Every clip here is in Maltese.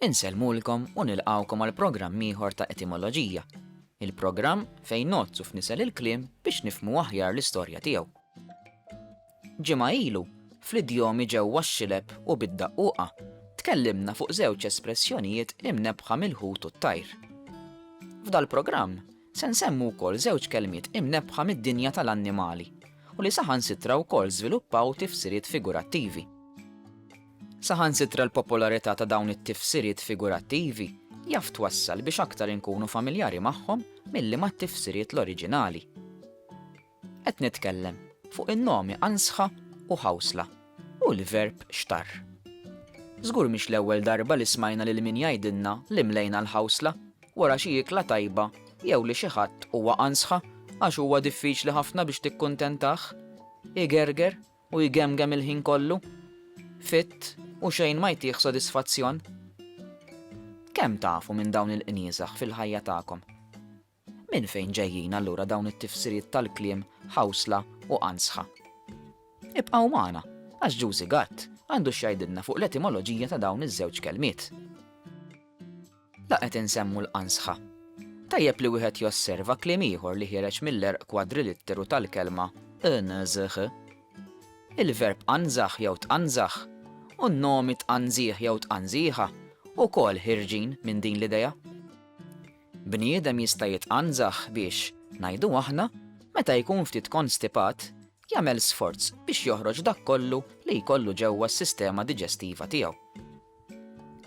Insellmulkom u nilqgħukom għal programm ieħor ta' Etimoloġija, il-programm fejn ngħodd u fnisel il-kliem biex nifhmu aħjar l-istorja tiegħu. Ġimgħa ilu, fl-idjomi ġewwa x-xilep u bid-daqquqa, tkellimna fuq żewġ espressjonijiet imnebbħa mill-ħut u t-tajr. F'dal-programm, se nsemmu wkoll żewġ kelmiet imnebbħa mid-dinja tal-annimali u li saħansitra wkoll żviluppaw tifsiriet figurattivi. Saħansitra l-popolarità ta' dawn it-tifsiriet figurattivi jaf twassal biex aktar inkunu familjari magħhom milli mat-tifsiriet l-oriġinali. Qed nitkellem fuq in-nomi ansħa u ħawsla u l-verb xtarr. Żgur mhix l-ewwel darba li smajna lil min jgħidilna li mlejna l-ħawsla wara xi ikla tajba jew li xi ħadd huwa ansħa għax huwa diffiċli ħafna biex tikkuntentah. Igerger u jgemgem il-ħin kollu, fit u xejn ma jtih sodisfazzjon? Kemm tafu minn dawn il-qnieżaħ fil-ħajja tagħkom? Minn fejn ġejjin allura dawn it-tifsiriet tal-kliem ħawsla u qanżħa? Ibqgħu magħna għax Ġużi Gatt għandu x'jgħidilna fuq l-etimoloġija ta' dawn iż-żewġ kelmiet. La qed insemmu l-qansħa. Tajjeb li wieħed josserva kliem ieħor li ħiereġ mill-erq kwadrilitteru tal-kelma qnżħ. Il-verb qanżaħ jew tqanżaħ u n-nomi tqanżiħ jew tqanżiħa wkoll ħierġin minn din l-idea. Bniedem jista' jitqanżaħ biex, ngħidu aħna, meta jkun ftit konstipat, jagħmel sforz biex joħroġ dak kollu li jkollu ġewwa s-sistema diġestiva tiegħu.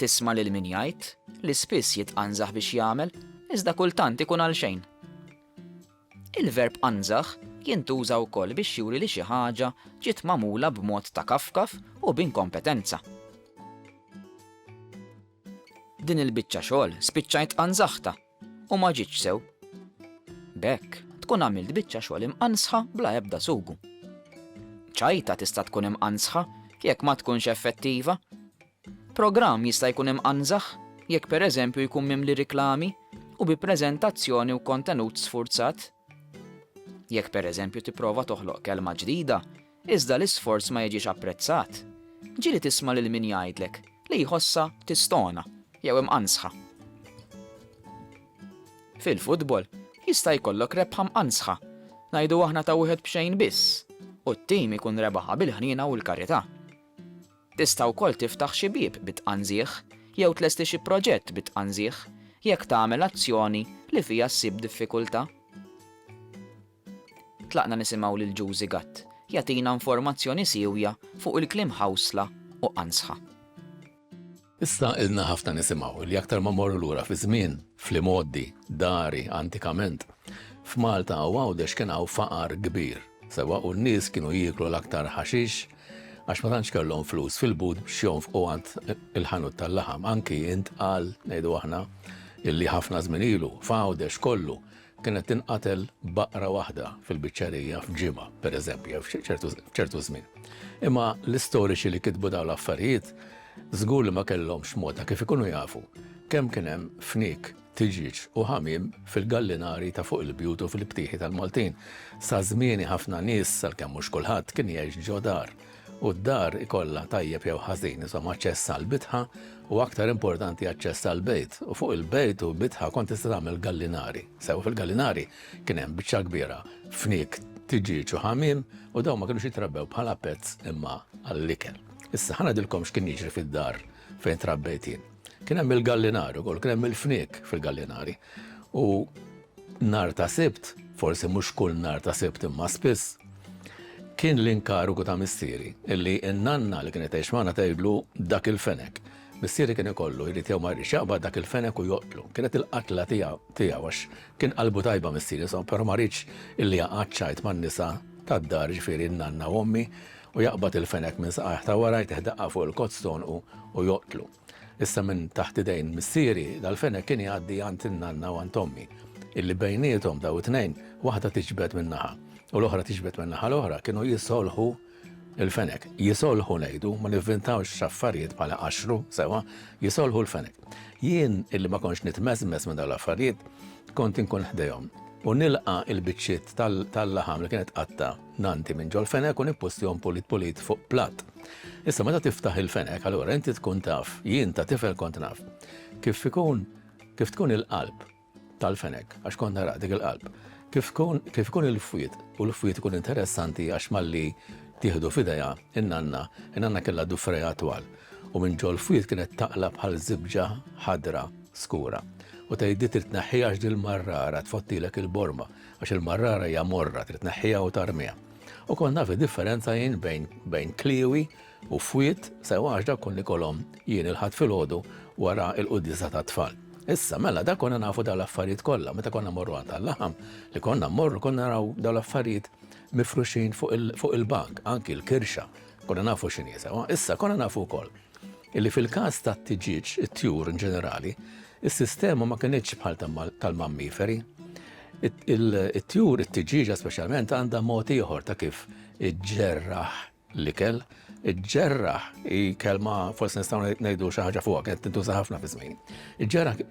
Tisma' lil min jgħid li spiss jitqanżaħ biex jagħmel, iżda kultant ikun għalxejn. Il-verb qanżaħ jintuża wkoll biex juri li xi ħaġa ġiet magħmula b'mod ta' kafkaf u b'inkompetenza. Din il-biċċa xogħol spiċċajt qanżaħtha u ma ġietx sew. B'hekk tkun għamilt biċċa xogħol imqanżħa bla ebda sugu. Ċajta tista' tkun imqanżħa jekk ma tkunx effettiva. Programm jista' jkun imqanżaħ jekk pereżempju jkun mimli riklami u bi preżentazzjoni u kontenut sfurzat. Jekk pereżempju tipprova toħloq kelma ġdida, iżda l-isforz ma jiġix apprezzat, ġieli tisma' lil min jgħidlek li jħossha tistona jew imqanżħa. Fil-futbol, jista' jkollok rebħa mqanżħa, ngħidu aħna ta' wieħed b'xejn biss, u t-tim ikun rebaħha bil-ħniena u l-karità. Tista' wkoll tiftaħ xi bieb bi tqanżigħ jew tlesti xi proġett bi tqanżigħ jekk tagħmel azzjoni li fiha ssib diffikultà. Tlaqna nisimgħu lil Juzi Gatt jagħtina informazzjoni siewja fuq il-kliem ħawsla u qanżħa. Issa ilna ħafna nisimgħu li aktar ma mmorru lura fiż-żmien, fl-imgħoddi, dari, antikament, f'Malta u Għawdex kien hawn faqar kbir, sewwa u n-nies kienu jieklu l-aktar ħaxix għax ma tantx kellhom flus fil-but biex jonfqu għand il-ħanut tal-laħam. Anki intqal, ngħidu aħna, illi ħafna żmien ilu, f'Għawdex kollu, Kienet tinqatel baqra waħda fil-biċċerija f'ġimgħa, per eżempju, jew f'ċertu żmien. Imma l-istoriċi li kitbu dawn l-affarijiet żgur li ma kellhomx mod ta' kif ikunu jafu kemm kien hemm fnik, tiġieġ u ħamiem fil-gallinari ta' fuq il-bjut u fil-btieħi tal-Maltin. Sa żmieni ħafna nies, salkemm mhux kulħadd, kien jgħix ġo dar. u d-dar ikollha tajjeb jew ħażin, insomma aċċess għall-bitħa u aktar importanti aċċess għall-bejt u fuq il-bejt u bitħa kont tista' tagħmel gallinari. Sew fil-gallinari kien hemm biċċa kbira fnik tiġiġ u ħamim u dawn ma kinux jitrabbew bħala pezz imma għall-ikel. Issa ħana dilkom x'kien jiġri fid-dar fejn trabbejtin. Kien hemm il-gallinar ukoll, kien hemm il-fniek fil-gallinari. U nar ta' sibt, forsi mhux kull nar ta' sibt imma spiss, kien l-inkarigu ta' missieri illi n-nanna li kienet tgħix magħna tgħidlu dak il-fenek. Missieri kien ikollu jrid jew ma jridx jaqbad dak il-fenek u joqtlu. Kienet il-qatla tiegħu għax kien qalbu tajba missieri, insomma, però ma ridx illi jaqgħad xajt man-nisa tad-dar, ġifieri n-nanna u ommi, U jaqbad il-fenek minn saqajh ta' wara, jtih daqqa fuq il-kott t'għonqu u joqtlu. Issa minn taħt idejn missieri, dal-fenek kien jgħaddi għand in-nanna u għand ommi, illi bejniethom, daw it-tnejn, waħda tiġbed minn naħa, u l-oħra tiġbed min-naħa l-oħra, kienu jisolħu l-fenek. Jisolħu ngħidu, ma nivvintawx affarijiet bħala qaxxru, sewwa, jisolħu l-fenek. Jien, illi ma kontx nitmeżmeż minn dawn l-affarijiet, kont inkun ħdejhom, u nilqa' l-biċċiet tal-laħam li kienet tqatta', nanti minn ġol-fenek u nippustihom pulit pulit fuq platt. Issa meta tiftaħ il-fenek, allura inti tkun taf, jien ta' tifel kont naf, kif ikun kif tkun il-qalb tal-fenek, għax kont nara dik il-qalb, kif ikun il-fwied u l-fwied ikun interessanti għax malli tieħdu f'idejha in-nanna, in-nanna kellha dufreja twal u minn ġol-fwied kienet taqla bħal żibġa ħadra skura. U tgħidli trid tneħħiha għax dil-marrara tfottilek il-borma. Għax il-marrara hija morra, trid tneħħiha u tarmiha. U kont naf id-differenza jien bejn bejn kliewi u fwied sewwa għax dak kont nikolhom jien il-Ħadd filgħodu wara l-quddiesa tat-tfal. Issa mela dak konna nafu dawn l-affarijiet kollha meta konna mmorru għand tal-laħam li konna mmorru konna naraw dawn l-affarijiet mifruxin fuq il-bank, anki l-kirxa Konna nafu x'inhi sewwa. Issa konna nafu wkoll illi fil-każ tat-tiġieġ, it-tjur in ġenerali, is-sistema ma kinitx bħal tal-mammiferi. It-tjur, it-tiġieġa speċjalment, għandha mod ieħor ta' kif iġġerraħ l-ikel. Iġġerraħ hi kelma forsi nistgħu ngħidu xi ħaġa fuqha kienet tintuża ħafna fi żmien. Iġġerraħ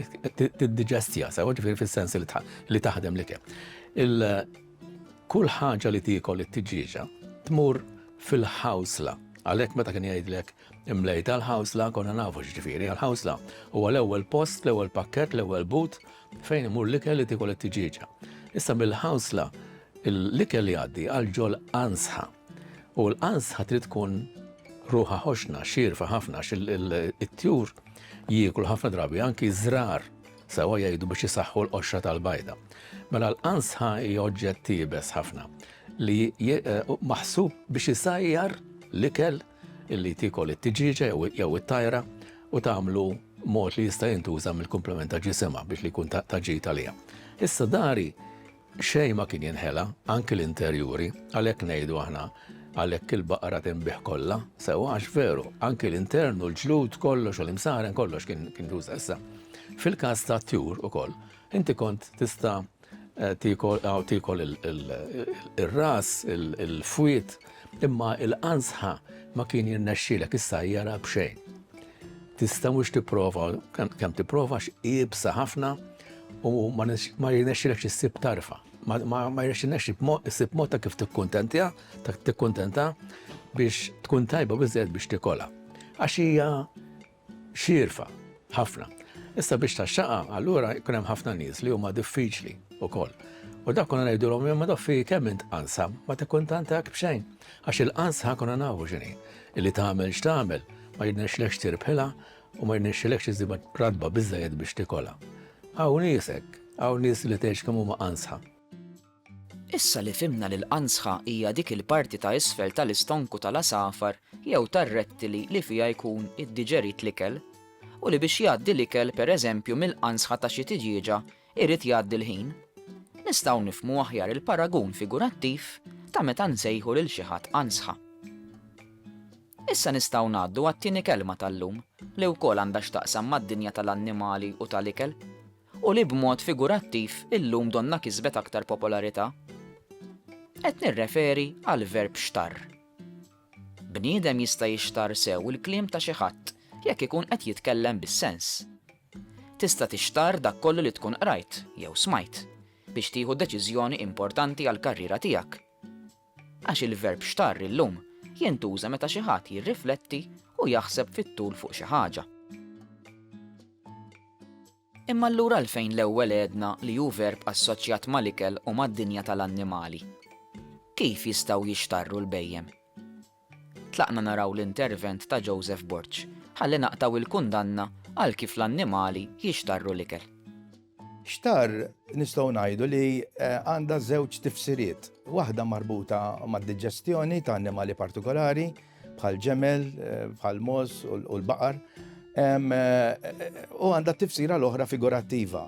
tiddiġestija sew, ġifieri fis-sens li taħdem l-ikel. Kull ħaġa li tiekol it-tiġieġa tmur fil-ħawsla. Għalhekk meta kien jgħidlek imlejta l-ħawsla konna nafu x'ġifieri għall-ħawsla. Huwa l-ewwel post, l-ewwel pakkett, l-ewwel but fejn imur l-ikel li tiekol it-tiġieġa. Issa mill-ħawsla l-ikel li għaddi għal ġol ansħa. U l-ansħa trid tkun ruħa ħoxna, xirfa ħafna, it-tjur jieklu ħafna drabi anki żrar Sewwa jgħidu biex isaħħu l-qoxra tal-bajda. Mela l-qansħa hija oġġett iebes ħafna li maħsub biex isajjar l-ikel li tikol it-tiġieġa jew it-tajra u tagħmlu mod li jista' jintuża mill-kumplament ta' ġisimha biex li jkun ta' ġid għaliha. Issa dari Xejn ma kien jinħela, anki l-interjuri, għalhekk ngħidu aħna, Għalhekk il-baqra tinbiegħ kollha, sewwa għax veru, anki l-intern u l-ġlud kollox u l-imsaren kollox kien jintuża. Issa, fil-każ tat-tjur ukoll, inti kont tista' tiekol aw tiekol ir-ras, il-fwied, imma l-qanżħa ma kien jirnexxielek issajjarha b'xejn. Tista' mhux tipprova, kemm tipprova għax iebsa ħafna, u ma jirnexxilekx issib tarfa, ma jirnexxilekx issib mod ta' kif tikkuntentja, ta' tikkuntenta biex tkun tajba biżżejjed biex tikola. Għax hija xirfa ħafna. Issa biex ta' xaqa, allura jkun hemm ħafna nies li huma diffiċli wkoll. U dak konna ngħidulhom imma dak fi kemm int qansa, ma tikkuntantak b'xejn. Għax il-qansa ħakuna nafu x'inhi, illi tagħmel x'tagħmel, ma jirnexxilekx tirbħilha, U ma jnexxilekx iżżibha ratba biżżejjed biex tikolha. Hawn nies hekk. Hawn nies li tgħidx kemm huma qansħa. Issa li fhimna li l-qansħa hija dik il-parti ta' isfel tal-istonku tal-għasafar jew tar-rettili li fiha jkun iddiġerit l-ikel, u li biex jgħaddi l-ikel pereżempju mill-qansħa ta' xi tiġieġa jrid jgħaddi l-ħin, nistgħu nifhmu aħjar il-paragun figurattiv ta' meta nsejħu lil xi ħadd qansħa. Issa nistgħu ngħaddu għat-tieni kelma tal-lum, li wkoll għandha x'taqsam mad-dinja tal-annimali u tal-ikel, u li b'mod figurattiv illum donnha kisbet aktar popolarità. Qed nirreferi għall-verb xtarr. Bniedem jista' jixtarr sew il-kliem ta' xi ħadd jekk ikun qed jitkellem bis-sens. Tista' tixtarr dak kollu li tkun qrajt jew smajt biex tieħu deċiżjoni importanti għall-karriera tiegħek. Għax il-verb xtarr illum jintuża meta xi ħadd jirrifletti u jaħseb fit-tul fuq xi ħaġa. Imma allura għalfejn l-ewwel għedna li hu verb assoċjat mal-ikel u mad-dinja tal-annimali? Kif jistgħu jixtarru l-bhejjem? Tlaqna naraw l-intervent ta' Joseph Borg ħalli naqtgħu il-kundanna għal kif l-annimali jixtarru l-ikel. Xtarr nistgħu ngħidu li għandha żewġ tifsiriet, waħda marbuta mad-diġestjoni ta' annimali partikolari bħal ġemel, bħal mogħoż u l-baqar, u għandha tifsira l-oħra figurattiva.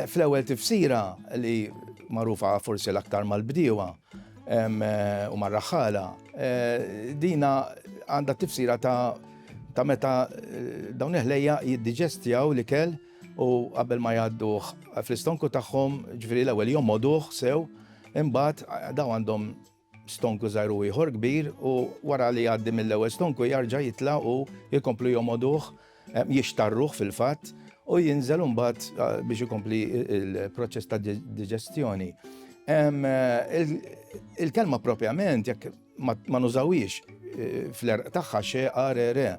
Fl-ewwel tifsira li magħrufa forsi l-aktar mal-bdiewa, u mar-raħħala, dina għandha tifsira ta' meta dawn il-ħlejja jiddiġestjaw l-ikel u qabel ma jgħadduh fl-istonku tagħhom, ġifieri l-ewwel jommoduh sew, imbagħad daw għandhom stonku żgħir u ieħor kbir u wara li jgħaddi mill-ewwel stonku jarġa' jitla' u jkomplu jommoduh Jixtarruh fil-fatt u jinżel imbagħad biex ikompli il-proċess ta' diġestjoni. Il-kelma propjament jekk ma nużawiex fl-erq tagħha xe arere.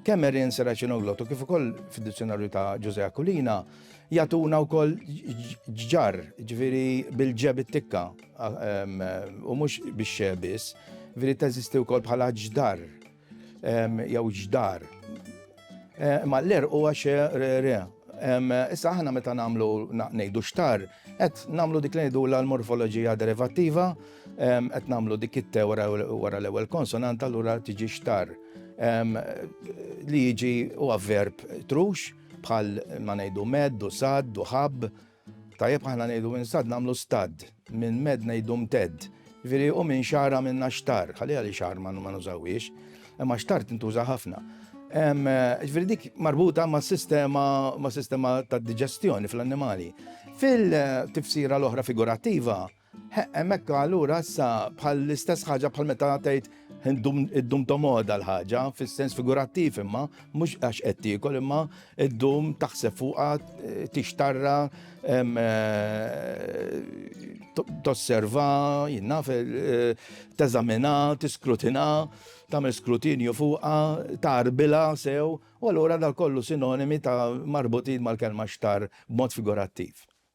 Kemm erin seraċinoglotu kif ukoll fid-dizzjonarju ta' Ġuże Akulina jatuna wkoll ġġar, ġifieri bil-ġeb it-tikka u mhux bix-xe biss, ġifieri teżisti wkoll bħala ġdar. jew ġdar. Ma l-er huwa xe re. Issa aħna meta nagħmlu ngħidu xtar, qed nagħmlu dik li ngħidu l-morfoloġija derivattiva, qed nagħmlu dik it-te wara l-ewwel konsonant allura tiġi xtar. Li jiġi huwa verb trux bħal ma ngħidu med, u sad, u ħabb, Tajjeb aħna ngħidu minn stad nagħmlu stad, minn med ngħidu mtedd. Jiġifieri u minn xagħar għamilna xtar, ħalliha li xagħar ma nużawhiex, imma xtar tintuża ħafna. Ġifieri dik marbuta ma' sistema ma' sistema ta' diġestjoni fl-annimali. Fil-tifsira l-oħra figurattiva, Hemmhekk allura issa bħal l-istess ħaġa bħal meta tgħid id-dum tomoda l-ħaġa, fis-sens figurattiv imma, mhux għax qed tiekol imma id-dum taħseb fuqha tixtarra tosserva, jinnaf, teżamina, tiskrutina, tagħmel skrutinju fuqha, tarbila sew, u allura dal kollu sinonimi ta' marbutin mal-kelma xtar b'mod figurattiv.